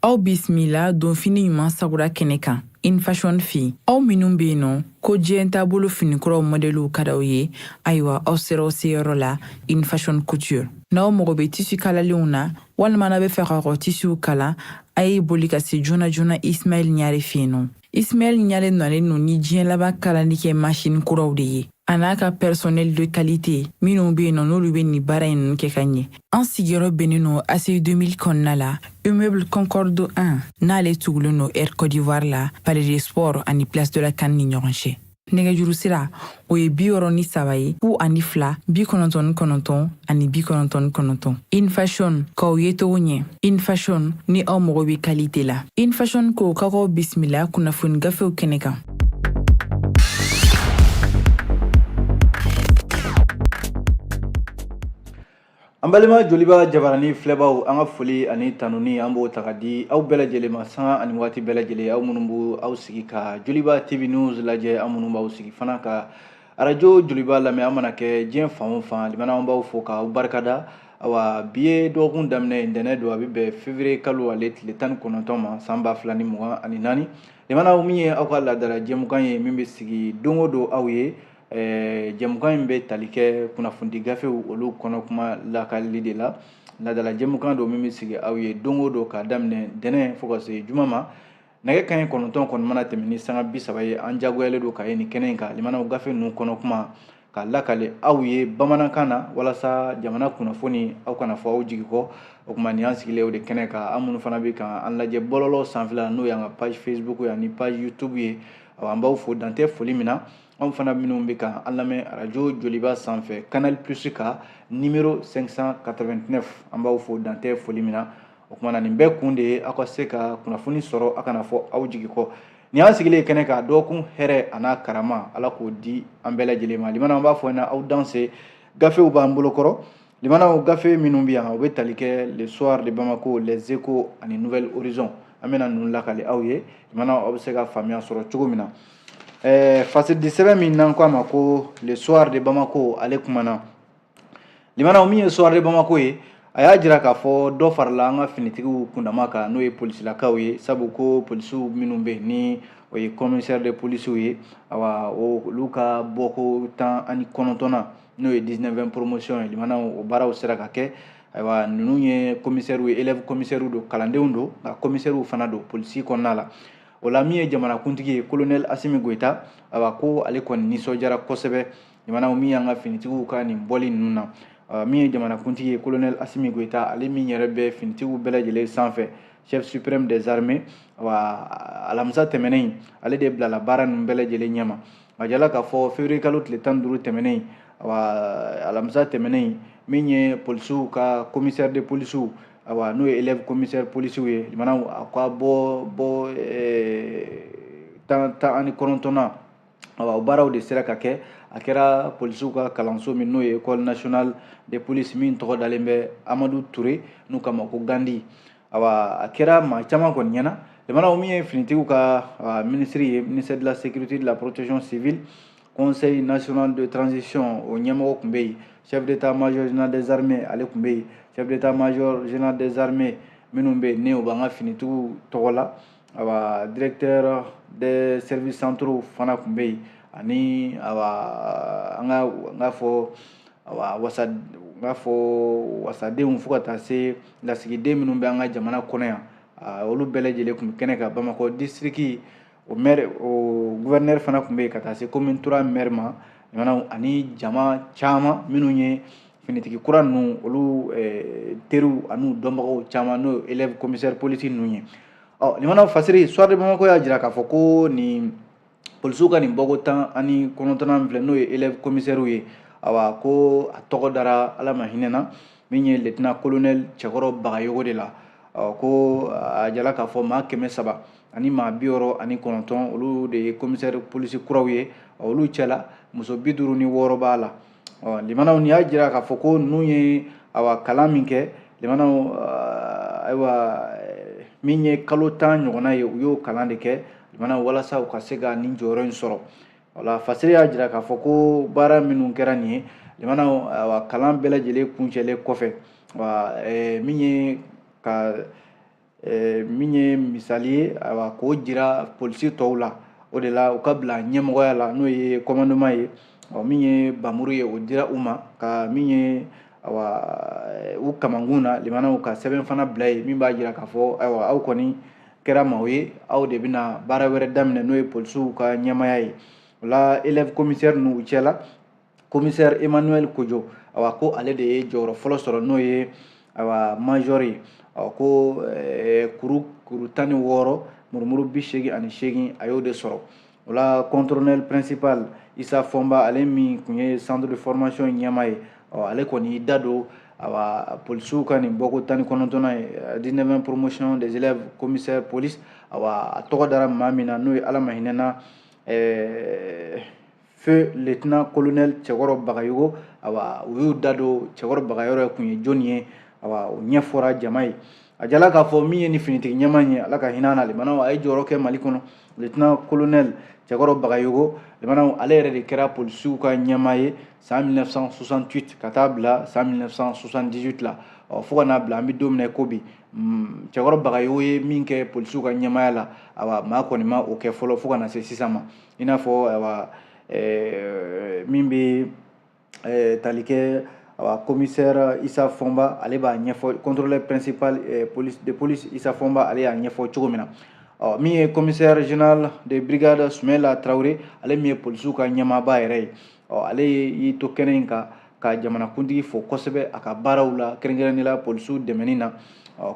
aw bisimila don fini ɲuman sagura kɛnɛ kan in fashion fɛ aw minnu bɛ yen nɔ ko diɲɛ taabolo finikuraw mɔdɛliw ka d'aw ye ayiwa aw sera aw seyɔrɔ la in fashion couture n'aw mago bɛ tisi kalalenw na walima n'a bɛ fɛ ka kɔ tisiw kala a ye boli ka se joona joona ismail ɲare fɛ yen nɔ Ismail Ɲare dɔnnen no ni diɲɛ laban kalali kɛ masini kuraw de ye a n'a ka personnel de qualité minnu be yen nɔ n'olu be nin baara in kɛ ka ɲɛ. An sigiyɔrɔ bɛnnen no ACI 2000 kɔnɔna la Immeuble Concorde 1 n'ale tugulen no Air Cote d'Ivoire la Palais des Sports ani Place de la CAN ni ɲɔgɔn cɛ. nɛgɛjuru sira o ye bi wɔɔrɔ ni saba ye fu ani fila bi kɔnɔntɔn ni kɔnɔntɔn ani bi kɔnɔntɔn ni kɔnɔntɔn in fashion k'aw yecogo ɲɛ in fashion ni aw mago bɛ kalite la in fashion ko ka k'aw bisimila kunnafoni gafew kɛnɛ kan An balima joliba jabaranin filɛbaw an ka foli ani tanuni an b'o ta ka di aw bɛɛ lajɛlen ma sanga ani waati bɛɛ lajɛlen aw minnu b' aw sigi ka joliba TV News lajɛ aw minnu b'aw sigi fana ka arajo joliba lamɛn aw mana kɛ diɲɛ fan o fan limana an b'aw fo k'aw barikada ayiwa bi ye dɔgɔkun daminɛ ntɛnɛn don a bɛ bɛn feburuye kalo ale tile tan ni kɔnɔntɔn ma san ba fila ni mugan ani naani limana min ye aw ka laadala jɛmukan ye min bɛ sigi don o don aw ye Eh, jɛmukan in bɛ tali kɛ kunnafoni gafew olu kɔnɔ kuma lakalili de la laadala jɛmukan don min bɛ sigi aw ye don o don k'a daminɛ ntɛnɛn fo ka se juma ma nɛgɛ kanɲɛ kɔnɔntɔn kɔni mana tɛmɛ ni sanga bi saba ye an jagoyalen don ka ye nin kɛnɛ in kan limanaw gafe ninnu kɔnɔ kuma ka lakale aw ye bamanankan na walasa jamana kunnafoni aw kana fɔ aw jigi kɔ o tuma nin y'an sigilen o de kɛnɛ kan aw minnu fana bɛ kan an lajɛ bɔlɔlɔ sanfɛla n'o y'an ka page facebook ye ani page youtube ye an b'aw fo dan tɛ foli min na aw fana minnu bɛ kan an lamɛn arajo joliba sanfɛ canal plus ka nimero 589 an b'aw fo dan tɛ foli min na o tuma na nin bɛɛ kun de ye aw ka se ka kunnafoni sɔrɔ a kana fɔ aw jigi kɔ nin y'an sigilen kɛnɛ kan dɔgɔkun hɛrɛ a n'a karama ala k'o di an bɛɛ lajɛlen ma limana an b'a fɔ ɲɛna aw dansɛ gafew b'an bolokɔrɔ Limanaw gafe minnu bɛ yan u bɛ tali kɛ le soir de Bamako, les échos ani nouvel horizon an bɛna ninnu lakale aw ye limanaw aw bɛ se ka faamuya sɔrɔ cogo min na ɛɛ fasilidi sɛbɛn min n'an k'a ma ko le soir de Bamako ale kumana limanaw min ye soir de Bamako ye a y'a jira k'a fɔ dɔ farala an ka finitigiw kundama kan n'o ye polisilakaw ye sabu ko polisiw minnu bɛ yen ni o ye commissaire de polisiw ye awa olu ka bɔko tan ani kɔnɔntɔnnan n'o ye 19e promotion ye limanaw o baaraw sera ka kɛ ayiwa ninnu ye komisɛriw ye élève komisɛriw don kalandenw don nka komisɛriw fana don polisi kɔnɔna la o la min ye jamanakuntigi ye kolonɛli asimi goyita ayiwa ko ale kɔni nisɔndiyara kosɛbɛ limanaw min y'an ka finitigiw ka nin bɔli ninnu na Euh, min ye jamanakuntigi ye colonel asimi goyita ale min yɛrɛ bɛ finitigiw bɛɛ lajɛlen sanfɛ chef suprême des armées wa alamisa tɛmɛnen ale de bilala baara ninnu bɛɛ lajɛlen ɲɛma a jala k'a fɔ février kalo tile tan duuru tɛmɛnen awa alamisa tɛmɛnen min ye polisiw ka commissaire de polisiw awa n'o ye élève commissaire polisiw ye limanaw a ka bɔ tan ani kɔnɔntɔnnan awa o baaraw de sera ka kɛ a kɛra polisiw ka kalanso min n'o ye école nationale de police min tɔgɔ dalen bɛ amadu ture n'u k'a ma ko gandi Ayiwa a kɛra maa caman kɔni ɲɛna jamana min ye finitigiw ka minisiriri ye miniri la seguriti la porotecon sibi kɔnɛ in nasion de transisiɔn o ɲɛmɔgɔ tun bɛ yen sɛbɛnbi taa maay zinad zrime ale tun bɛ yen sɛbɛn taa maay zina dezrime minnu bɛ yen ne u b'an ka finitigiw tɔgɔ la awa directeur des services centraux fana tun bɛ yen ani awa an ka n k'a fɔ awa wasa n k'a fɔ wasadenw fo ka taa se lasigiden minnu bɛ an ka jamana kɔnɔ yan olu bɛɛ lajɛlen tun bɛ kɛnɛ kan bamakɔ distriki o maire o gouverneur fana tun bɛ yen ka taa se commune trois maire ma ani jama caman minnu ye finitigi kura ninnu olu eh, teriw an'u dɔnbagaw caman n'o ye élève commissaire polisi ninnu ye ɔ limanaw fasiri soir de bamako y'a jira k'a fɔ ko nin polisiw ka nin bɔko tan ani kɔnɔntɔnnan filɛ n'o ye élève commissaire ye awa ko a tɔgɔ dara ala ma hinɛ na min ye lieutenant colonel cɛkɔrɔ bagayogo de la ko a jala k'a fɔ maa kɛmɛ saba ani maa bi wɔɔrɔ ani kɔnɔntɔn olu de ye commissaire polisi kuraw ye olu cɛla muso bi duuru ni wɔɔrɔ b'a la ɔ limanaw nin y'a jira k'a fɔ ko ninnu ye awa kalan min kɛ limanaw eh, ayiwa eh, min ye kalo tan ɲɔgɔnna ye u y'o kalan de kɛ limanaw walasa u ka se ka nin jɔyɔrɔ in sɔrɔ wala fasiri y'a jira k'a fɔ ko baara minnu kɛra nin ye limanaw awa kalan bɛɛ lajɛlen kuncɛlen kɔfɛ wa eh, min ye ka eh, min ye misali ye ayiwa k'o jira polisi tɔw la o de la u ka bila ɲɛmɔgɔya la n'o ye kɔmandoma ye ɔ min ye bamuru ye o dira u ma ka min ye awa eh, u kamankun na limanaw ka sɛbɛn fana bila yen min b'a jira k'a fɔ ayiwa aw kɔni kɛra maaw ye aw de bɛna baara wɛrɛ daminɛ n'o ye polisiw ka ɲɛmaya ye o la élève komisɛri ninnu cɛla commissaire emmanuel kojo awa ko ale de ye jɔyɔrɔ fɔlɔ sɔrɔ n'o ye awa major ye awa ko eh, kuru kuru tan ni wɔɔrɔ murumuru bi seegin ani seegin a y'o de sɔrɔ o la contrôleur principal isa fɔnba ale min kun ye centre de formation ɲɛmaa ye ale kɔni y'i da don awa polisiw ka nin bɔko tan ni kɔnɔntɔnnan ye 19 promotion des élèves commissaire police awa a tɔgɔ dara maa min na n'o ye ala ma hinɛ na eh, feu lieutenant colonel Cɛkɔrɔ Bagayogo awa u y'u da don Cɛkɔrɔ Bagayogo kun ye jɔni ye awa o ɲɛfɔra jama ye a jirala k'a fɔ min ye nin finitigi ɲɛmaa ye ala ka hinɛ na limanaw a ye jɔyɔrɔ kɛ mali kɔnɔ lieutenant colonel Cɛkɔrɔ Bagayogo limanaw ale yɛrɛ de kɛra polisiw ka ɲɛmaa ye san 1968 ka taa bila san 1978 la ɔ fo ka n'a bila an bɛ don min na ko bi mm, Cɛkɔrɔ Bagayogo ye min kɛ polisiw ka ɲɛmaaya la awa maa kɔni ma o kɛ fɔlɔ fo ka na se sisan ma i n'a fɔ ayiwa eh, min bɛ eh, tali kɛ ayiwa commissaire isa fɔnba ale b'a ɲɛfɔ contrôleur principal eh, police de police isa fɔnba ale y'a ɲɛfɔ cogo min na ɔ min ye commissaire général de brigade sumela traoré ale min ye polisiw ka ɲɛmaaba yɛrɛ ye ɔ ale y'i to kɛnɛ in kan ka jamanakuntigi fo kosɛbɛ a ka baaraw la kɛrɛnkɛrɛnnenya la polisiw dɛmɛni na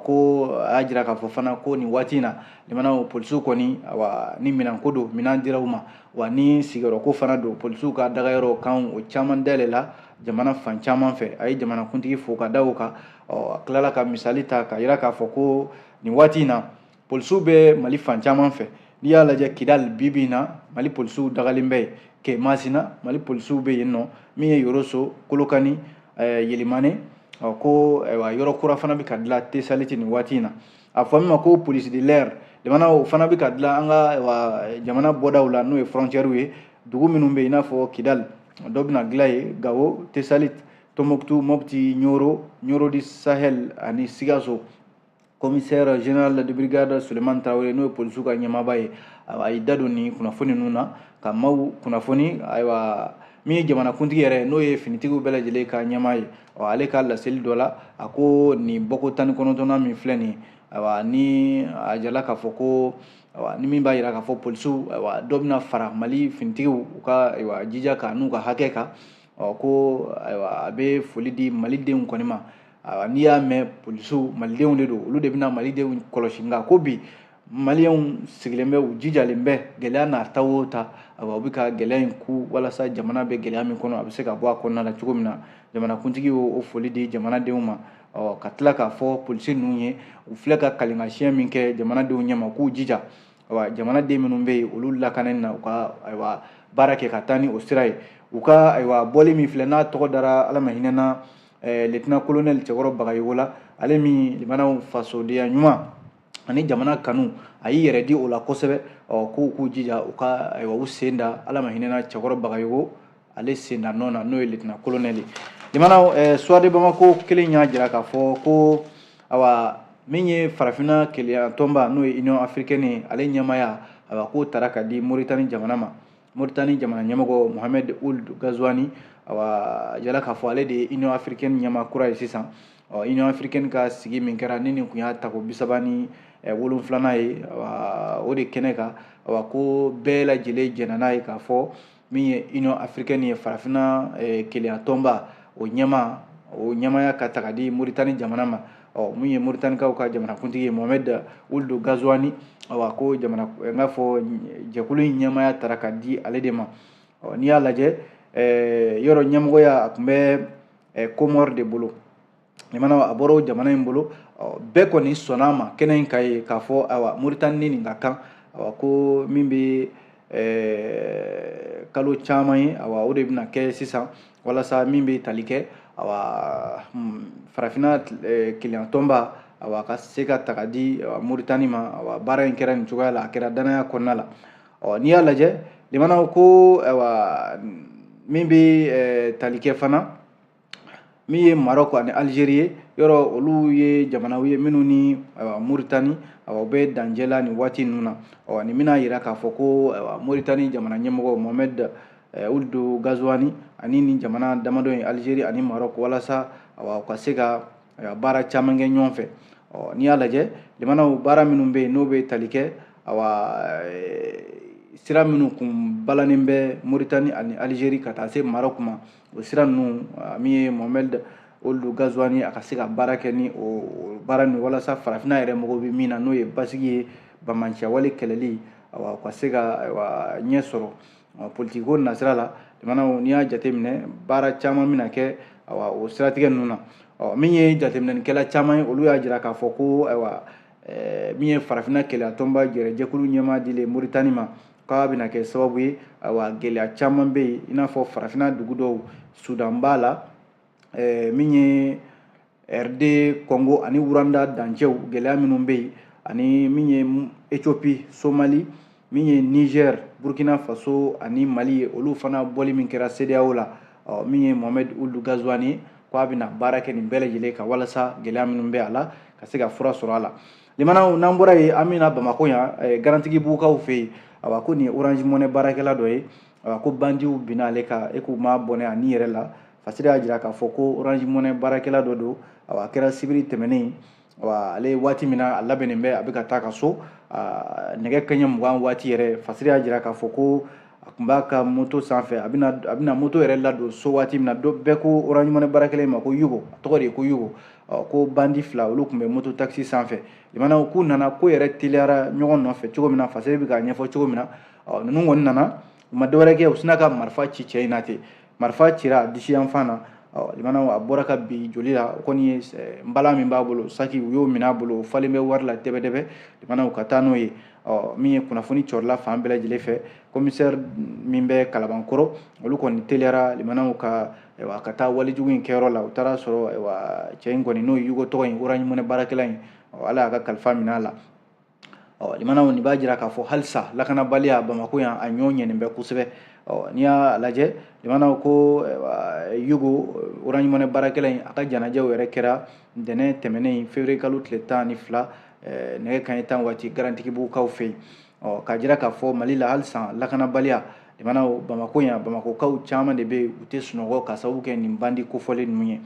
ko a y'a jira k'a fɔ fana ko nin waati in na limanaw polisiw kɔni wa ni minɛnko don minɛn dira u ma wa ni sigiyɔrɔko fana don polisiw ka dagayɔrɔ kan o caman dayɛlɛla jamana fan caman fɛ a ye jamanakuntigi fo ka da o kan ɔ a tilala ka misali ta ka yira k'a fɔ ko nin waati in na polisiw bɛ mali fan caman fɛ n'i y'a lajɛ kidali bibi in na mali polisiw dagalen bɛ yen kemasina mali polisiw bɛ yen ɔ min ye yoroso kolokani eh, yelimane ɔ ko ayiwa yɔrɔ kura fana bɛ ka dilan tesaliti nin waati in na a fɔ min ma ko police de l'air limanaw o fana bɛ ka dilan an ka ayiwa jamana bɔdaw la n'o ye frontière ye dugu minnu bɛ yen i n'a fɔ kidali dɔ bɛna dilan yen gawo tesaliti tombouctou mopti ɲoro ɲoro du sahel ani sikaso commissaire général de brigade Suleiman Traoré n'o ye polisiw ka ɲɛmaaba ye a y'i da don nin kunnafoni ninnu na ka maaw kunnafoni ayiwa min ye jamanakuntigi yɛrɛ n'o ye finitigiw bɛɛ lajɛlen ka ɲɛmaa ye ɔ ale ka laseli dɔ la a ko nin bɔko tan ni kɔnɔntɔnnan min filɛ nin ayiwa ni a jirala k'a fɔ ko ayiwa ni min b'a yira k'a fɔ polisiw ayiwa dɔ bɛna fara mali finitigiw u ka ayiwa jija kan n'u ka hakɛ kan ɔ ko ayiwa a bɛ foli di mali denw kɔni ma ayiwa n'i y'a mɛn polisiw malidenw de don olu de bɛna malidenw kɔlɔsi nka ko bi maliyɛnw sigilen bɛ u jijalen bɛ gɛlɛya n'a ta o ta ayiwa u bɛ ka gɛlɛya in kun walasa jamana bɛ gɛlɛya min kɔnɔ a bɛ se ka bɔ a kɔnɔna la cogo min na jamanakuntigi y'o foli di jamanadenw ma ɔ ka tila k'a fɔ polisi ninnu ye u filɛ ka kali ka siyɛn min kɛ jamanadenw ɲɛma k'u jija ayiwa jamanaden minnu bɛ yen olu lakanani na u ka ayiwa baara kɛ ka taa ni o sira ye u ka ayiwa bɔli min filɛ n'a tɔgɔ dara ala ma hinɛ na eh, lieutenant colonel cɛkɔrɔ bagayogo la ale min limanaw fasodenya ɲuman ani jamana kanu a y'i yɛrɛ di o la kosɛbɛ ɔ k'u k'u jija u ka ayiwa u sen da ala ma hinɛ na cɛkɔrɔ bagayogo ale sen da nɔ na n'o ye lieutenant colonel ye limanaw eh, soir de bamako kelen y'a jira k'a fɔ ko awa min ye farafinna kelenyatɔnba n'o ye union africaine ye ale ɲɛmaya awa k'o taara ka di moritani jamana ma moritani jamana ɲɛmɔgɔ mohamed ould ghazouani awa a jirala k'a fɔ ale de ye union africaine ɲɛma kura ye sisan union africaine ka sigi min kɛra ni nin kun y'a tako bisaba ni wolonfilanan ye o de kɛnɛ kan awa ko bɛɛ lajɛlen jɛnna n'a ye k'a fɔ min ye union africaine ye farafinna kelenya tɔnba o ɲɛma o ɲɛmaya ka taga di moritani jamana ma ɔ min ye moritanikaw ka jamanakuntigi ye mohamed ould ghazouani awa ko jamana eh, n k'a fɔ jɛkulu in ɲɛmaya taara ka di ale de ma ɔ n'i y'a lajɛ eh, yɔrɔ ɲɛmɔgɔya a tun bɛ eh, komɔri de bolo limanaw a bɔra o jamana in bolo ɔ bɛɛ kɔni sɔnna a ma kɛnɛ in kan yen k'a fɔ awa moritani ni nin ka kan awa ko min bɛ eh, kalo caman ye awa o de bɛna kɛ sisan walasa min bɛ tali kɛ awa hmm, farafinna eh, kelenyatɔnba awa ka se ka taga di moritani ma awa baara in kɛra nin cogoya la a kɛra danaya kɔnɔna la ɔ n'i y'a lajɛ limanaw ko awa min bɛ eh, tali kɛ fana min ye marɔku ani alizeri ye yɔrɔ olu ye jamanaw ye minnu ni moritani u bɛ dancɛ la nin waati ninnu na ɔ nin bɛna jira k'a fɔ ko moritani jamana ɲɛmɔgɔ mohamed ould ghazouani ani nin jamana damadɔ ye alizeri ani marɔku walasa u ka se ka baara caman kɛ ɲɔgɔn fɛ ɔ n'i y'a lajɛ limanaw baara minnu bɛ yen n'o bɛ tali kɛ sira minnu kun balannen bɛ moritani ani alizeri ka taa se marɔku ma o sira ninnu min ye mohamed ould ghazouani a ka se ka baara kɛ ni o baara nin walasa farafinna yɛrɛ mago bɛ min na n'o ye basigi ye banbaanciwale kɛlɛli awa ka se ka ayiwa ɲɛ sɔrɔ politikiko nasira la limanaw n'i y'a jateminɛ baara caman bɛna kɛ awa o siratigɛ ninnu na ɔ min ye jateminɛlikɛla caman ye olu y'a jira k'a fɔ ko ayiwa min ye farafinna kelenyatɔnba yɛrɛ jɛkulu ɲɛmaa dilen moritani ma k'a bɛna kɛ sababu ye ayiwa gɛlɛya caman bɛ yen i n'a fɔ farafinna dugu dɔw sudan b'a la ɛɛ min ye rd kɔngo ani rwanda dancɛw gɛlɛya minnu bɛ yen ani min ye ethiopie somali min ye niger burkina faso ani mali ye olu fana bɔli min kɛra sedeyawo la ɔ min ye mohamed ould ghazouani ko a bɛna baara kɛ nin bɛɛ lajɛlen kan walasa gɛlɛya minnu bɛ a la ka se ka fura sɔrɔ a la Limanaw n'an bɔra yen an bɛ na Bamakɔ yan eh, Garantigibugukaw fɛ yen awa ko nin ye Orange Money baarakɛla dɔ ye awa ko bandiw binna ale kan e k'u ma bɔnɛ a ni yɛrɛ la Fasiri y'a jira k'a fɔ ko Orange Money baarakɛla dɔ don awa a kɛra sibiri tɛmɛnen awa ale waati min na a labɛnnen bɛ a bɛ ka taa ka so nɛgɛ kaɲɛ mugan waati yɛrɛ Fasiri y'a jira k'a fɔ ko a tun b'a ka moto sanfɛ a bɛna moto yɛrɛ ladon so waati min na bɛɛ ko orange money baarakɛla in ma ko yugo a tɔgɔ de ye ko yugo ko bandi fila olu tun bɛ moto takisi sanfɛ limanaw k'u nana ko yɛrɛ teliyara ɲɔgɔn nɔfɛ cogo min na fasiri bɛ k'a ɲɛfɔ cogo min na ninnu kɔni nana u ma dɔwɛrɛ kɛ u sinna ka marifa ci cɛ in na ten marifa cira a disi yanfan na a bɔra ka bin joli la o kɔni ye eh, nbalan min b'a bolo saki u y'o minɛ a bolo o falen bɛ wari la dɛbɛdɛbɛ limanaw ka taa n'o ye min ye kunnafoni cɔrila fan bɛɛ lajɛlen fɛ komisɛri min bɛ kalabankɔrɔ olu kɔni teliyara limanaw ka ka taa walejugu in kɛyɔrɔ la u taara sɔrɔ cɛ in kɔni n'o ye yugo tɔgɔ in orange money baarakɛla in ala y'a ka kalifa minɛ a la ɔ limanaw nin b'a jira k'a fɔ halisa lakanabaliya bamako yan a ɲɔ ɲɛnen bɛ kosɛbɛ ɔ n'i y'a lajɛ limanaw ko yugo orange money baarakɛla in a ka janajaw yɛrɛ kɛra ntɛnɛn tɛmɛnen in fevriye kalo tile tan ni fila nɛgɛ kaɲɛ tan waati garantigibugukaw fɛ yen ɔ k'a jira k'a fɔ mali la halisa lakanabaliya limanaw bamako yan bamakokaw caman de bɛ yen u tɛ sunɔgɔ ka sababu kɛ nin bandi kofɔlen ninnu ye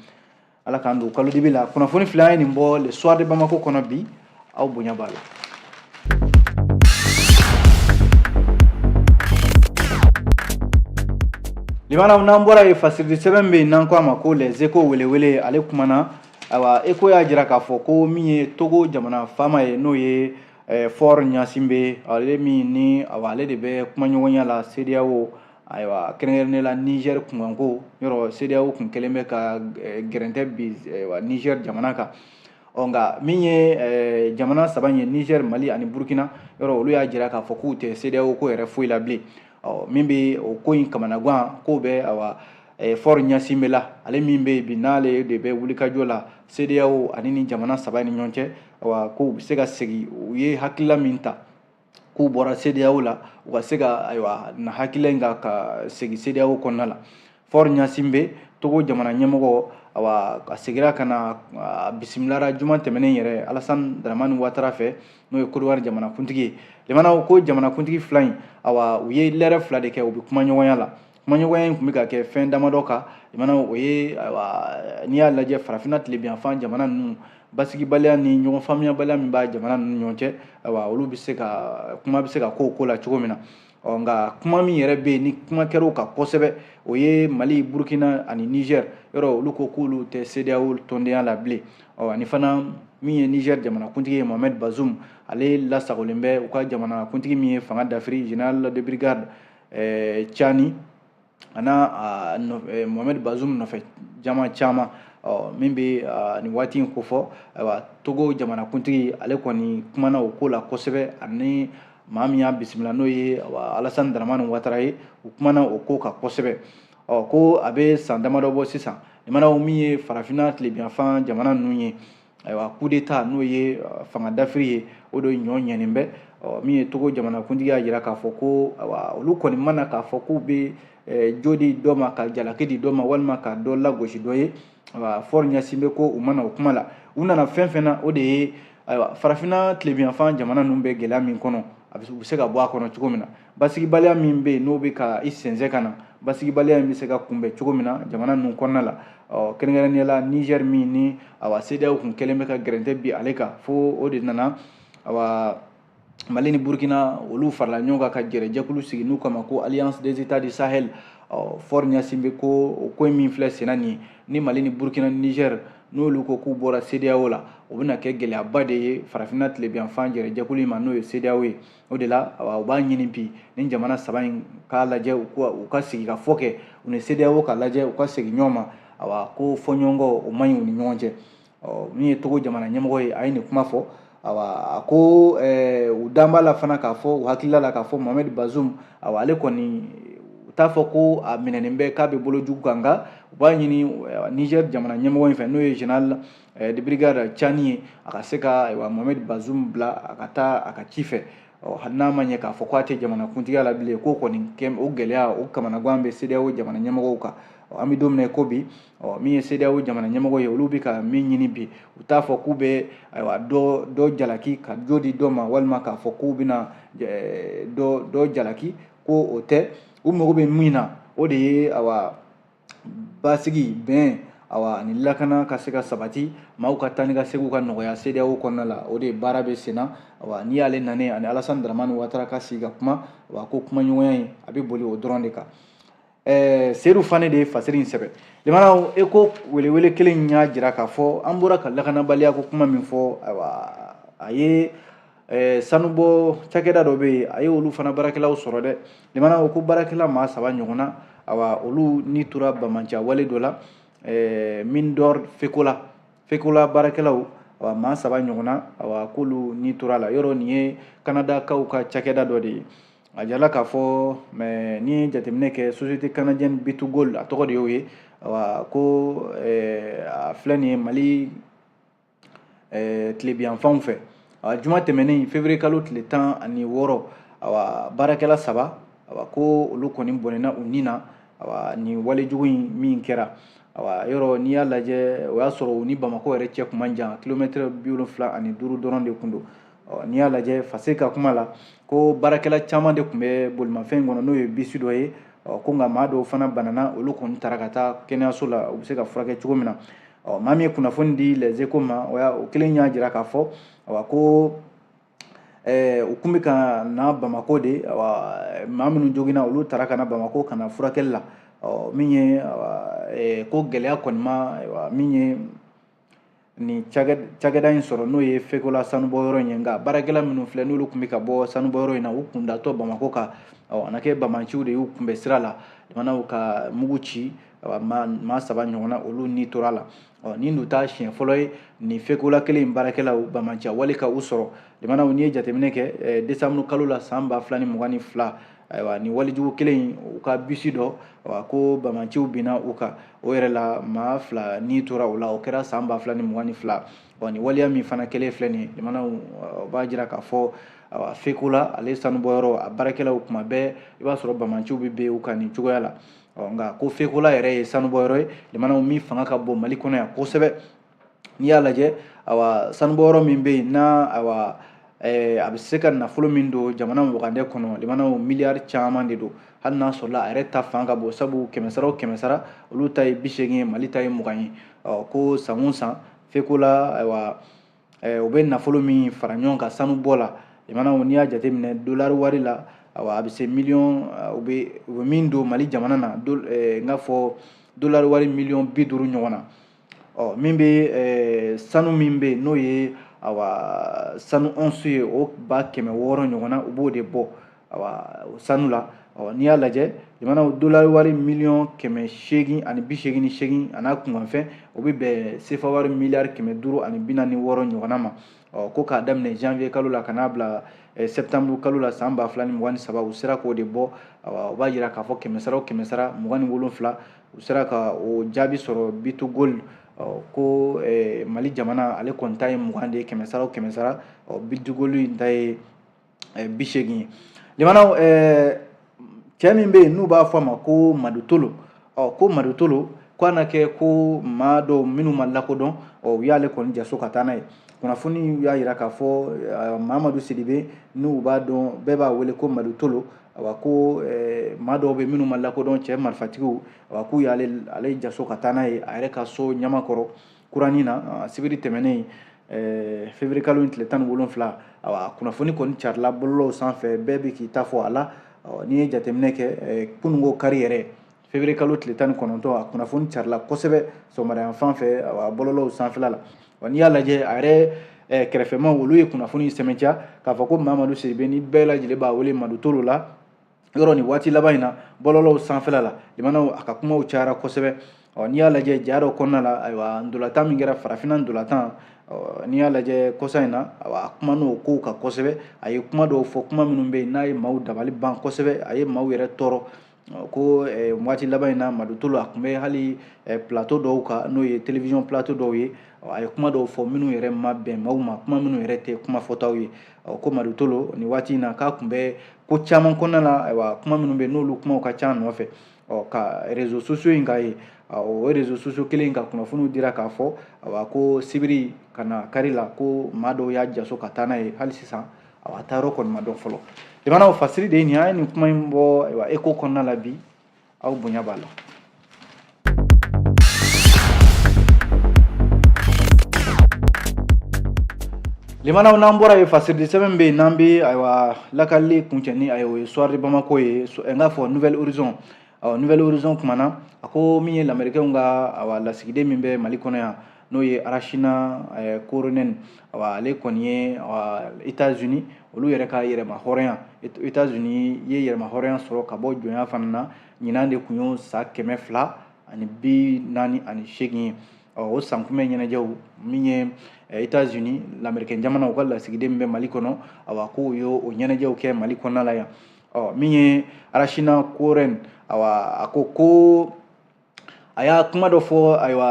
ala k'an don kalo dibi la kunnafoni fila an ye nin bɔ le soir de bamako kɔnɔ bi aw bonya b'a la limanaw n'an bɔra yen fasiridi sɛbɛn bɛ yen n'an ko a ma ko les échos welewele ale kumana ayiwa échos y'a jira k'a fɔ ko min ye togo jamana faama ye n'o ye eh, faure gnassingbé ale min ni awa ale de bɛ kumaɲɔgɔnya la sedeyawo ayiwa kɛrɛnkɛrɛnnen la nizɛri kunkanko yɔrɔ sedeyaw tun kɛlen bɛ ka eh, gɛrɛntɛ bin eh, nizɛri jamana kan ɔ nka min ye eh, jamana saba ye nizɛri mali ani burukina yɔrɔ olu y'a jira k'a fɔ k'u tɛ sedeyaw ko yɛrɛ foyi la bilen ɔ min bɛ o ko in kamanaganko bɛ awa faure gnassingbé la ale min bɛ yen bi n'ale de bɛ wulikajɔ la sedeyaw ani ni jamana saba ni ɲɔgɔn cɛ awa ko u bɛ se ka segin u ye hakilila min ta k'u bɔra CEDEAO la u ka se ka ayiwa na hakilila in ka ka segin CEDEAO kɔnɔna la Faure Gnassingbé Togo jamana ɲɛmɔgɔ awa a segira ka na a bisimilara juma tɛmɛnen yɛrɛ Alassane Dramane Ouattara fɛ n'o ye Kodowari jamanakuntigi ye lamɛnnaw ko jamanakuntigi fila in awa u ye lɛrɛ fila de kɛ u bɛ kumaɲɔgɔnya la kumaɲɔgɔnya in tun bɛ ka kɛ fɛn damadɔ kan lamɛnnaw o ye n'i y'a lajɛ farafinna tilebinyanfan jamana ninnu basigibaliya ni ɲɔgɔn faamuyabaliya min b'a jamana ninnu ɲɔgɔn cɛ ayiwa olu bɛ se ka kuma bɛ se ka k'o ko la cogo min na ɔ nka kuma min yɛrɛ bɛ yen ni kuma kɛra o kan kosɛbɛ o ye mali burukina ani nizɛr yɔrɔ olu ko k'olu tɛ sedeyawo tɔndenya la bilen ɔ ani fana min ye nizɛr jamanakuntigi ye mohamɛd bazum ale lasagolen bɛ u ka jamanakuntigi min ye fanga dafiri général de brigade eh, cani a n'a eh, mohamɛdi bazum nɔfɛ jama caman min bɛ nin waati in kofɔ ayiwa togo jamanakuntigi ale kɔni kumana o ko la kosɛbɛ ani maa min y'a bisimila n'o ye alasani daramani watara ye u kumana o ko kan kosɛbɛ ɔ ko a bɛ san damadɔ bɔ sisan lamɛnnaw min ye farafinna tilebinyanfan jamana ninnu ye ayiwa kudeta n'o ye fanga dafiri ye o de ɲɔ ɲɛnen bɛ min ye togo jamanakuntigi y'a jira k'a fɔ ko olu kɔni ma na k'a fɔ k'u bɛ jo di dɔ ma ka jalaki di dɔ ma walima ka dɔ lagosi dɔ ye Faure Gnassingbé ko u ma na o kuma la u nana fɛn fɛn na o de ye ayiwa farafinna tilebinyanfan jamana ninnu bɛ gɛlɛya min kɔnɔ u bɛ se ka bɔ a kɔnɔ cogo min na basigibaliya min bɛ yen n'o bɛ ka i sɛnsɛn ka na basigibaliya in bɛ se ka kunbɛn cogo min na jamana ninnu kɔnɔna la ɔ kɛrɛnkɛrɛnnenya la nizɛri min ni awa sedeyawo tun kɛlen bɛ ka gɛrɛntɛ bin ale kan fo o de nana awa mali ni burkina olu farala ɲɔgɔn kan ka gɛrɛjɛkulu sigi n'u k'a ma ko alliance des états du sahel ɔ Faure Gnassingbé ko o ko min filɛ senna nin ye ni mali ni burkina ni nizɛri n'olu ko k'u bɔra sedeyawo la o bɛna kɛ gɛlɛyaba de ye farafinna tilebinyanfan gɛrɛjɛkulu in ma n'o ye sedeyawo ye o de la u b'a ɲini bi nin jamana saba in k'a lajɛ u ka sigi ka fɔ kɛ u ni CEDEAO ka lajɛ u ka segin ɲɔgɔn ma awa ko fɔɲɔgɔnkɔ o man ɲi u ni ɲɔgɔn cɛ ɔ min ye togo jamana ɲɛmɔgɔ ye a ye nin kuma fɔ awa a ko u dan b'a la fana k'a fɔ u hakilila la k'a fɔ mohamɛdi bazum awa ale kɔni u t'a fɔ ko a minɛnen bɛ k'a bɛ bolo jugu kan nka u b'a ɲini nizɛri jamana ɲɛmɔgɔ in fɛ n'o ye général de brigade cani ye a ka se ka Mohamed Bazoum bila a ka taa a ka ci fɛ ɔ hali n'a ma ɲɛ k'a fɔ k'a tɛ jamanakuntigiya la bilen k'o kɔni o gɛlɛya o kamanagan bɛ CEDEAO jamana ɲɛmɔgɔw kan an bɛ don min na ko bi ɔ min ye CEDEAO jamana ɲɛmɔgɔ ye olu bɛ ka min ɲini bi u t'a fɔ k'u bɛ ayiwa dɔ jalaki ka jo di dɔ ma walima k'a fɔ k'u bɛna dɔ jalaki ko o tɛ u mago bɛ min na o de ye basigi bɛn awa ani lakana ka se ka sabati maaw ka taa ni ka seginw ka nɔgɔya CEDEAO kɔnɔna la o de baara bɛ sen na awa n'i y'ale nanen ani Alassane Dramane Ouattara ka sigi ka kuma awa ko kumaɲɔgɔnya in a bɛ boli o dɔrɔn de kan ɛɛ Seydou Fane de ye fasiri in sɛbɛn limanaw e ko welewele kelen in y'a jira k'a fɔ an bɔra ka lakanabaliya ko kuma min fɔ ayiwa a ye ɛɛ sanubɔ cakɛda dɔ bɛ yen a ye olu fana baarakɛlaw sɔrɔ dɛ limana ko baarakɛla maa saba ɲɔgɔn na awa olu ni tora bamanciya wale dɔ la ɛɛ mine d'or fekola fekola baarakɛlaw awa maa saba ɲɔgɔn na awa k'olu ni tora la yɔrɔ nin ye kanadakaw ka cakɛda dɔ de ye a jala k'a fɔ n'i ye jateminɛ kɛ société canadienne B2Gold a tɔgɔ de y'o ye awa ko ɛɛ a filɛ nin ye mali eh, tilebinyanfanw fɛ awa juma tɛmɛnen février kalo tile tan ani wɔɔrɔ awa baarakɛla saba awa ko olu kɔni bɔnɛna u ni na awa nin walejugu in min kɛra awa yɔrɔ n'i y'a lajɛ o y'a sɔrɔ u ni bamakɔ yɛrɛ cɛ kun man jan kilomɛtɛrɛ bi wolonfila ani duuru dɔrɔn de kun don n'i y'a lajɛ fase ka kuma la ko baarakɛla caman de tun bɛ bolimafɛn kɔnɔ n'o ye bisi dɔ ye ko nka maa dɔw fana banana olu kɔni taara ka taa kɛnɛyaso la u bɛ se ka furakɛ cogo min na ɔ maa min ye kunnafoni di Les Échos ma o y'a o kelen y'a jira k'a fɔ ko u tun bɛ ka na bamakɔ de maa minnu joginna olu taara ka na bamakɔ ka na furakɛli la ɔ min ye ko gɛlɛya kɔni ma min ye nin cakɛda in sɔrɔ n'o ye fekola sanubɔ yɔrɔ in ye nka baarakɛla minnu filɛ n'olu tun bɛ ka bɔ sanubɔ yɔrɔ in na u kun datɔ bamakɔ kan ɔ a na kɛ bamanciw de y'u kunbɛn sira la jamanaw ka mugu ci maa saba ɲɔgɔnna olu ni tora la ɔ nin dun t'a siɲɛ fɔlɔ ye nin fekola kelen in baarakɛlaw bamanciya wale ka u sɔrɔ jamanaw n'i ye jateminɛ kɛ desanburu kalo la san ba fila ni mugan ni fila ayiwa nin walejugu kelen in u ka bisi dɔ ko bamanciw binna u kan o yɛrɛ la maa fila ni tora o la o kɛra san ba fila ni mugan ni fila wa ni waleya min fana kɛlen filɛ nin jamanaw o b'a jira k'a fɔ awa fekola ale sanubɔyɔrɔ a baarakɛlaw kuma bɛɛ i b'a sɔrɔ bamanciw bɛ bin u kan nin cogoya la nka ko fekola yɛrɛ ye sanubɔyɔrɔ ye jamanaw min fanga ka bon mali kɔnɔ yan kosɛbɛ n'i y'a lajɛ awa sanubɔ yɔrɔ min bɛ yen n'a awa eh, a bɛ se ka nafolo min don jamana wagandɛ kɔnɔ limanaw miliyari caman de don hali n'a sɔrɔla a yɛrɛ ta fan ka bon sabu kɛmɛsara o kɛmɛsara olu ta ye bi seegin ye mali ta ye mugan ye ɔ ko san o san fekola ayiwa eh, u bɛ nafolo min fara ɲɔgɔn kan sanubɔ la limanaw n'i y'a jateminɛ dolari wari la awa a bɛ se miliyɔn eh, u bɛ u bɛ min don mali jamana na eh, n k'a fɔ dolari wari miliyɔn bi duuru ɲɔgɔn na ɔ min bɛ eh, sanu min bɛ yen n'o ye awa sanu ɔnsu ye o ba kɛmɛ wɔɔrɔ ɲɔgɔn na u b'o de bɔ awa sanu la ɔ n'i y'a lajɛ jamana dolari wari miliyɔn kɛmɛ seegin ani bi seegin ni seegin a n'a kunkanfɛn o bɛ bɛn sefa wari miliyari kɛmɛ duuru ani bi naani wɔɔrɔ ɲɔgɔnna ma ɔ ko k'a daminɛ janvier kalo la ka n'a bila eh, septembre kalo la san ba fila ni mugan ni saba u sera k'o de bɔ awa o b'a jira k'a fɔ kɛmɛ sara o kɛmɛ sara mugan ni wolonfila u sera ka o jaabi sɔrɔ B2Gold ko mali jamana ale kɔni ta ye mugan de ye kɛmɛsara o kɛmɛsara B2Gold in ta ye bi seegin ye limanaw cɛ min bɛ yen n'u b'a fɔ a ma ko madu tolo ɔ ko madu tolo ko na kɛ ko maa dɔw minnu ma lakodɔn ɔ u y'ale kɔni jaso ka taa n'a ye kunnafoni y'a yira k'a fɔ mamadu sidibe n'u b'a dɔn bɛɛ b'a wele ko madu tolo a ko maa dɔw bɛ minnu ma lakodɔn cɛ marifatigiw a k'u y'ale ale jaso ka taa n'a ye a yɛrɛ ka so ɲamakɔrɔ kuranin na sibiri tɛmɛnen fevrier kalo in tile tan ni wolonfila a kunnafoni kɔni carila bɔlɔlɔw sanfɛ bɛɛ bɛ k'i ta fɔ a la n'i ye jateminɛ kɛ kununko kari yɛrɛ fevrier kalo tile tan ni kɔnɔntɔn a kunnafoni carila kosɛbɛ sɔgɔmadayan fan fɛ bɔlɔlɔw sanfɛla la wa n'i y'a lajɛ a yɛrɛ eh, kɛrɛfɛmaw olu ye kunnafoni sɛmɛntiya k'a fɔ ko mamadu sidibe ni bɛɛ lajɛlen b'a wele madu tolo la yɔrɔ nin waati laban in na bɔlɔlɔw sanfɛla la limanaw a ka kumaw cayara kosɛbɛ ɔ n'i y'a lajɛ ja dɔ kɔnɔna la ayiwa ndolatan min kɛra farafinna ndolatan n'i y'a lajɛ kɔsa in na a kuman'o kow kan kosɛbɛ a ye kuma dɔw fɔ kuma minnu bɛ yen n'a ye maaw dabali ban kosɛbɛ a ye maaw yɛrɛ tɔɔrɔ ko eh, waati laban in na madu tolo a tun bɛ hali eh, plateau dɔw kan n'o ye television plateau dɔw ye a ye kuma dɔw fɔ minnu yɛrɛ ma bɛn maaw ma kuma minnu yɛrɛ tɛ kuma fɔtaw ye ko madu tolo nin waati in na k'a tun bɛ ko caman kɔnɔna la ayiwa kuma minnu bɛ yen n'olu kumaw ka ca nɔfɛ ɔ ka réseaux sociaux in k'a ye o réseaux sociaux kelen ka kunnafoniw dira k'a fɔ ayiwa ko sibiri ka na kari la ko maa dɔw y'a jaso ka taa n'a ye hali sisan awa a taayɔrɔ kɔni ma dɔn fɔlɔ limanaw fasiri de ye nin an ye nin kuma in bɔ ayiwa echos kɔnɔna la bi aw bonya b'a la limanaw n'an bɔra yen fasiri de sɛbɛn bɛ yen n'an bɛ ayiwa lakalili kuncɛ ni a ye o ye soir de bamako ye n k'a fɔ nouvel horizon ɔ nouvel horizon kumana a ko min ye lamerikɛnw ka awa lasigiden min bɛ mali kɔnɔ yan n'o ye rachna korhonen ale kɔni ye états-unis olu yɛrɛ ka yɛrɛmahɔrɔnya états-unis ye yɛrɛmahɔrɔnya sɔrɔ ka bɔ jɔnya fana na ɲinan de tun y'o san kɛmɛ fila ani bi naani ani seegin ye o sankunbɛn ɲɛnajɛw min ye états-unis lamerikɛn jamana u ka lasigiden min bɛ mali kɔnɔ awa k'o ye o ɲɛnajɛw kɛ mali kɔnɔna la yan ɔ min ye rachna korhonen awa a ko ko a y'a kuma dɔ fɔ ayiwa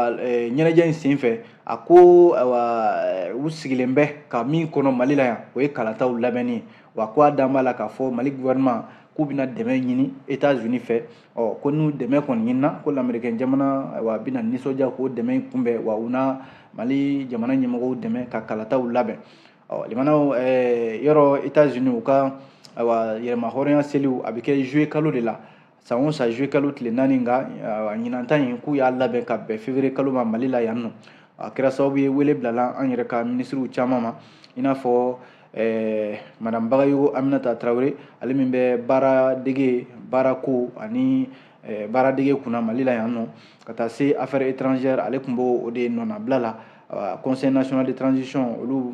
ɲɛnajɛ in senfɛ a ko ayiwa u sigilen bɛ ka min kɔnɔ mali la yan o ye kalataw labɛnni ye wa ko a dalen b'a la k'a fɔ mali gouvernement k'u bɛna dɛmɛ ɲini etats unis fɛ ɔ ko n'u dɛmɛ kɔni ɲinina ko lamerikɛn jamana ayiwa a bɛna nisɔndiya k'o dɛmɛ in kunbɛn wa u na mali jamana ɲɛmɔgɔw dɛmɛ ka kalataw labɛn ɔ limanaw yɔrɔ etats unis u ka ayiwa yɛrɛmahɔrɔnya seliw a bɛ kɛ juillet kalo de la san o san juillet kalo tile naani nka ɲinan ta in k'u y'a labɛn ka bɛn février kalo ma mali la yan nɔ a kɛra sababu ye wele bilala an yɛrɛ ka minisiriw caman ma i n'a fɔ eh, madame bagayogo aminata tarawele ale min bɛ baara dege baara ko ani eh, baara dege kunna mali la yan nɔ ka taa se affaires étrangères ale tun b'o de nɔnabila la conseil national de transition olu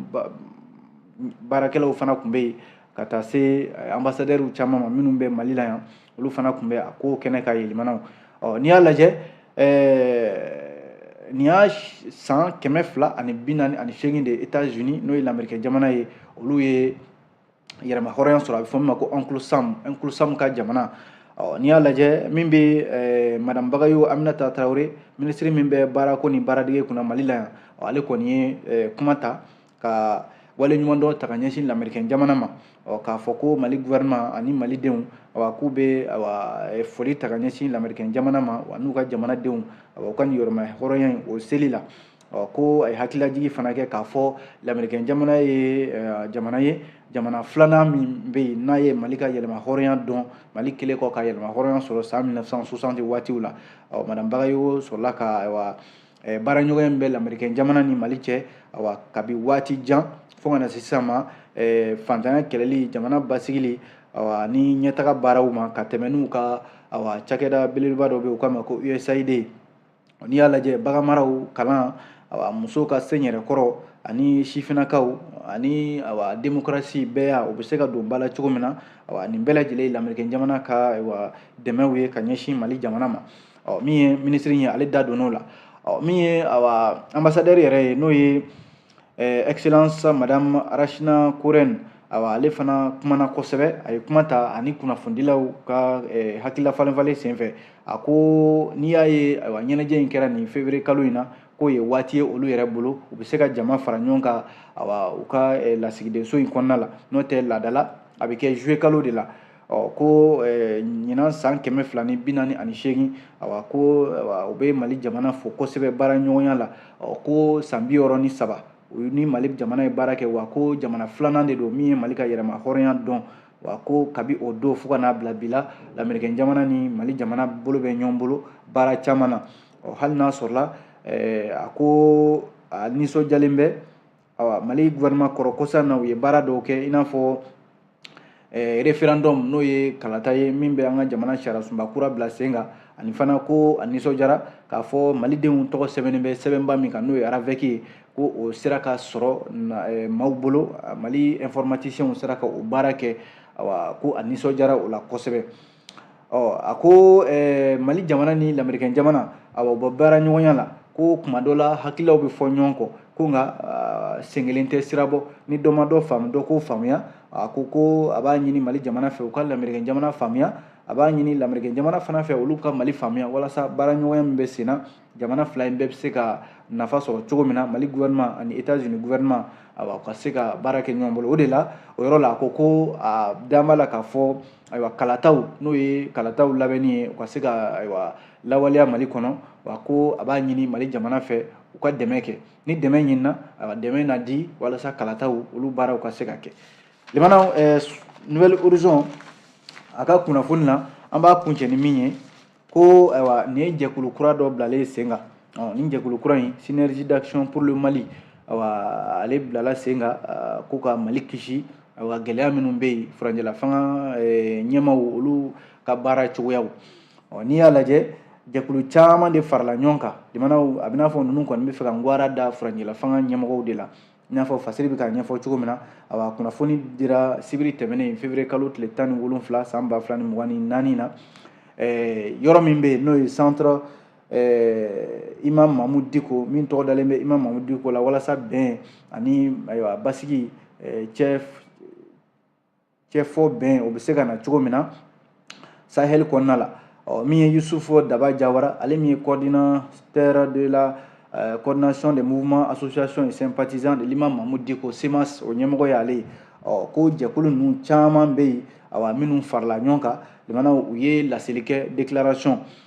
baarakɛlaw fana tun bɛ yen ka taa se eh, anbasadɛriw caman ma minnu bɛ mali la yan olu fana tun bɛ a ko kɛnɛ kan yɛlɛmanaw ɔ n'i y'a lajɛ eh, nin y'a san kɛmɛ fila ani bi naani ani seegin de etats unis n'o ye lamerikɛn jamana ye olu ye yɛrɛma hɔrɔnya sɔrɔ a bɛ fɔ min ma ko uncle sam uncle sam ka jamana ɔ n'i y'a lajɛ min bɛ eh, madame bagayogo aminata tarawele minisiri min bɛ baarako ni baaradege kunna mali la yan ale kɔni ye kuma ta ka waleɲumandɔn ta ka ɲɛsin lamerikɛn jamana ma k'a fɔ ko mali gouvernement ani malidenw awa k'u bɛ awa e, foli ta ka ɲɛsin lamerikɛn jamana ma wa n'u ka jamanadenw awa u ka nin yɛrɛma hɔrɔnya in o seli la ko a ye hakililajigi fana kɛ k'a fɔ lamerikɛn jamana ye e, jamana ye jamana filanan min bɛ yen n'a ye mali ka yɛrɛma hɔrɔnya dɔn mali kɛlen kɔ ka yɛrɛma hɔrɔnya sɔrɔ san 1960 waatiw la madame bagayogo sɔrɔla ka awa eh, baaraɲɔgɔnya min bɛ lamerikɛn jamana ni mali cɛ awa kabi waati jan fo ka na se sisan ma eh, fantanya kɛlɛli jamana basigili awa ni ɲɛtaga baaraw ma ka tɛmɛ n'u ka awa cakɛda belebeleba dɔ bɛ u k'a ma ko usaid n'i y'a lajɛ baganmara kalan awa musow ka se yɛrɛ kɔrɔ ani sifinakaw ani awa demokarasi bɛɛya u bɛ se ka don ba la cogo min na awa nin bɛɛ lajɛlen ye lamerikɛn jamana ka awa dɛmɛw ye ka ɲɛsin mali jamana ma ɔ min ye minisiri ye ale da donn'o la ɔ min ye awa anbasadɛri yɛrɛ ye n'o ye excellence madame rachna korhonen awa ale fana kumana kosɛbɛ a ye kuma ta ani kunnafonidilaw ka hakilila falenfalen senfɛ a ko n'i y'a ye awa ɲɛnajɛ in kɛra nin février kalo in na k'o ye waati ye olu yɛrɛ bolo u bɛ se ka jama fara ɲɔgɔn kan awa u ka lasigidenso in kɔnɔna la n'o tɛ laadala a bɛ kɛ juillet kalo de la ɔ ko ɲinan san kɛmɛ fila ni bi naani ani seegin awa ko u bɛ mali jamana fo kosɛbɛ baara ɲɔgɔnya la ɔ ko san bi wɔɔrɔ ni saba u ni mali jamana ye baara kɛ wa ko jamana filanan de don min ye mali ka yɛrɛmahɔrɔnya dɔn wa ko kabi o don fo ka n'a bila bi la lamerikɛn jamana ni mali jamana bolo bɛ ɲɔgɔn bolo baara caman na ɔ hali n'a sɔrɔla a ko a nisɔndiyalen bɛ awa mali gouvernement kɔrɔ kɔsa na u ye baara dɔw kɛ i n'a fɔ eh, referendum n'o ye kalata ye min bɛ an ka jamana sariyasunba kura bila sen kan ani fana ko a nisɔndiyara k'a fɔ malidenw tɔgɔ sɛbɛnnen bɛ sɛbɛnba min kan n'o ye aravɛki ye ko o sera ka sɔrɔ eh, maaw bolo mali informatisiyɛnw sera ka o baara kɛ awa ko a nisɔndiyara o la kosɛbɛ ɔ a ko eh, mali jamana ni lamerikɛn jamana awa u b'o baara ɲɔgɔnya la ko kuma dɔ la hakililaw bɛ fɔ ɲɔgɔn kɔ ko nka uh, sen kelen tɛ sira bɔ ni dɔ ma dɔ faamu dɔ k'o faamuya a ko ko a b'a ɲini mali jamana fɛ u ka lamerikɛn jamana faamuya a b'a ɲini lamerikɛn jamana fana fɛ olu ka mali faamuya walasa baara ɲɔgɔnya min bɛ sen na jamana fila in bɛɛ bɛ se ka nafa sɔrɔ cogo min na mali gouvernement ani états unis gouvernement awa ka se ka baara kɛ ɲɔgɔn bolo o de la o yɔrɔ la a ko ko a dalen b'a la k'a fɔ ayiwa kalataw n'o ye kalataw labɛnni ye u ka se ka ayiwa lawaleya mali kɔnɔ wa ko a b'a ɲini mali jamana fɛ u ka dɛmɛ kɛ ni dɛmɛ ɲinina ayiwa dɛmɛ na di walasa kalataw olu baaraw ka se ka kɛ limanaw eh, nouvel horizon a ka kunnafoni na an b'a kuncɛ ni min ye ko ayiwa nin ye jɛkulu kura dɔ bilalen ye sen kan ɔ nin jɛkulu kura in synergie d'action pour le mali ayiwa ale bilala sen kan ko ka mali kisi ayiwa gɛlɛya minnu bɛ yen furancɛlafanga ɲɛmaaw olu ka baara cogoyaw ɔ n'i y'a lajɛ jɛkulu caman de farala ɲɔgɔn kan limanaw a bɛ n'a fɔ ninnu kɔni bɛ fɛ ka ngwaran da furancɛlafanga ɲɛmɔgɔw de la i n'a fɔ fasiri bɛ k'a ɲɛfɔ cogo min na a kunnafoni dira sibiri tɛmɛnen fevrier kalo tile tan ni wolonwula san ba fila ni mugan ni naani na eh, yɔrɔ min bɛ yen n'o ye centre eh, imam mahmoud diko min tɔgɔ dalen bɛ imam mahmoud diko la walasa bɛn ani ayiwa basigi eh, cɛ cɛfɔ bɛn o bɛ se ka na cogo min na sahel kɔnɔna la ɔ min ye yusufu daba jawara ale min ye coordinateur de la euh, coordination des mouvements associations et sympathisants de l'imam mahmoud diko cmas o ɲɛmɔgɔ y'ale ye ɔ ko jɛkulu ninnu caman bɛ yen awa minnu farala ɲɔgɔn kan limanaw u ye laseli kɛ déclaration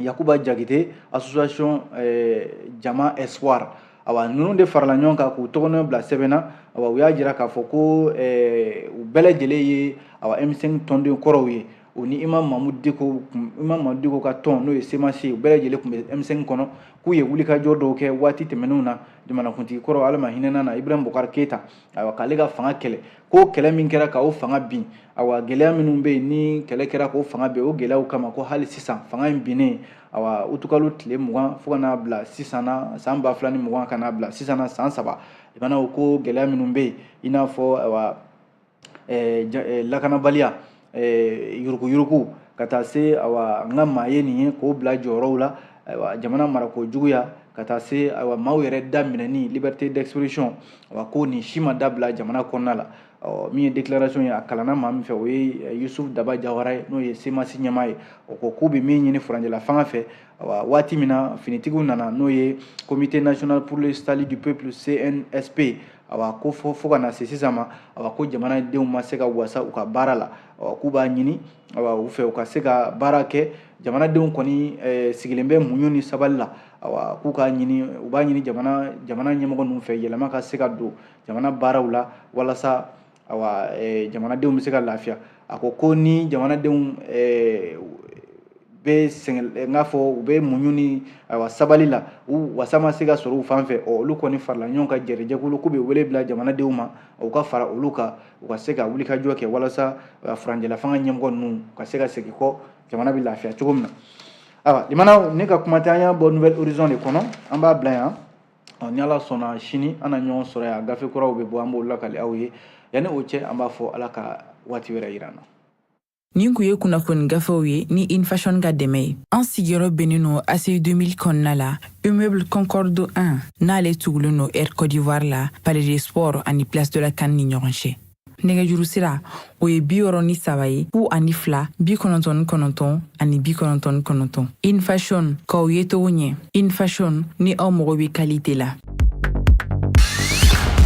yakuba jagite association eh, jama espoir awa ninnu de farala ɲɔgɔn kan k'u tɔgɔnɔ bila sɛbɛn na awa u y'a jira k'a fɔ ko eh, u bɛɛ lajɛlen ye awa m5 tɔnden kɔrɔw ye o ni imam mahmoud diko ka tɔn n'o ye semasi ye u bɛɛ lajɛlen tun bɛ m5 kɔnɔ k'u ye wulikajɔ dɔw kɛ waati tɛmɛnenw na jamanakuntigi kɔrɔ ala ma hinɛn'a na ibrahim bokar keyita ayiwa k'ale ka fanga kɛlɛ ko kɛlɛ min kɛra k'o fanga bin awa gɛlɛya minnu bɛ yen ni kɛlɛ kɛra k'o fanga bin o gɛlɛyaw kama ko hali sisan fanga in binnen awa utukalo tile mugan fo ka n'a bila sisan na san ba fila ni mugan ka n'a bila sisan na san saba limanaw ko gɛlɛya minnu bɛ yen i n'a fɔ awa eh, eh, lakanabaliya eh, yuruguyurugu ka taa se awa n ka maa ye nin ye k'o bila jɔyɔrɔw la ayiwa jamana marako juguya ka taa se ayiwa maaw yɛrɛ da minɛni liberté d'expression awa ko nin si ma dabila jamana kɔnɔna la ɔ min ye déclaration ye a kalanna maa min fɛ o ye eh, yusuf daba jawara ye n'o ye cmas ɲɛmaa ye o ko k'u bɛ min ɲini furancɛla fanga fɛ awa waati min na finitigiw nana n'o ye comité national pour le salut du peuple cnsp awa ko fɔ fo ka na se sisan ma awa ko jamanadenw ma se ka wasa u ka baara la a k'u b'a ɲini a u fɛ u ka se ka baara kɛ jamanadenw kɔni eh, sigilen bɛ muɲu ni sabali la awa k'u ka ɲini u b'a ɲini jamana jamana ɲɛmɔgɔ ninnu fɛ yɛlɛma ka se ka don jamana baaraw la walasa awa eh, jamanadenw bɛ se ka lafiya a ko ko ni jamanadenw eh, bɛ sɛgɛn eh, n k'a fɔ u bɛ muɲu ni awa sabali la u wasa ma se ka sɔrɔ u fan fɛ ɔ olu kɔni farala ɲɔgɔn kan jɛrɛjɛkulu k'u bɛ wele bila jamanadenw ma u ka fara olu kan u ka se ka wulikajɔ kɛ walasa furancɛlafanga ɲɛmɔgɔ ninnu ka se ka segin kɔ jamana bɛ lafiya cogo min na awa limanaw ne ka kuma tɛ an y'a bɔ nouvel horizon de kɔnɔ an b'a bila yan ɔ ni ala sɔnna sini an na ɲɔgɔn sɔrɔ yan gafe kuraw bɛ bɔ an b'o lakali aw ye yanni o cɛ an b'a fɔ ala ka waati wɛrɛ yira an na nin kun ye kunnafoni gafew ye ni infashion ka dɛmɛ ye an sigiyɔrɔ bɛnnen no aci 2000 kɔnɔna la immeuble concorde 1 n'ale tugulen no air côte d'ivoire la palais des sports ani place de la can ni ɲɔgɔn cɛ nɛgɛjuru sira o ye bi wɔrɔ ni saba ye fu ani fila bi kɔnɔntɔn ni kɔnɔntɔn ani bi kɔnɔntɔn ni kɔnɔntɔn infashion k'aw ye togo ɲɛ infashion ni aw mago bɛ kalite la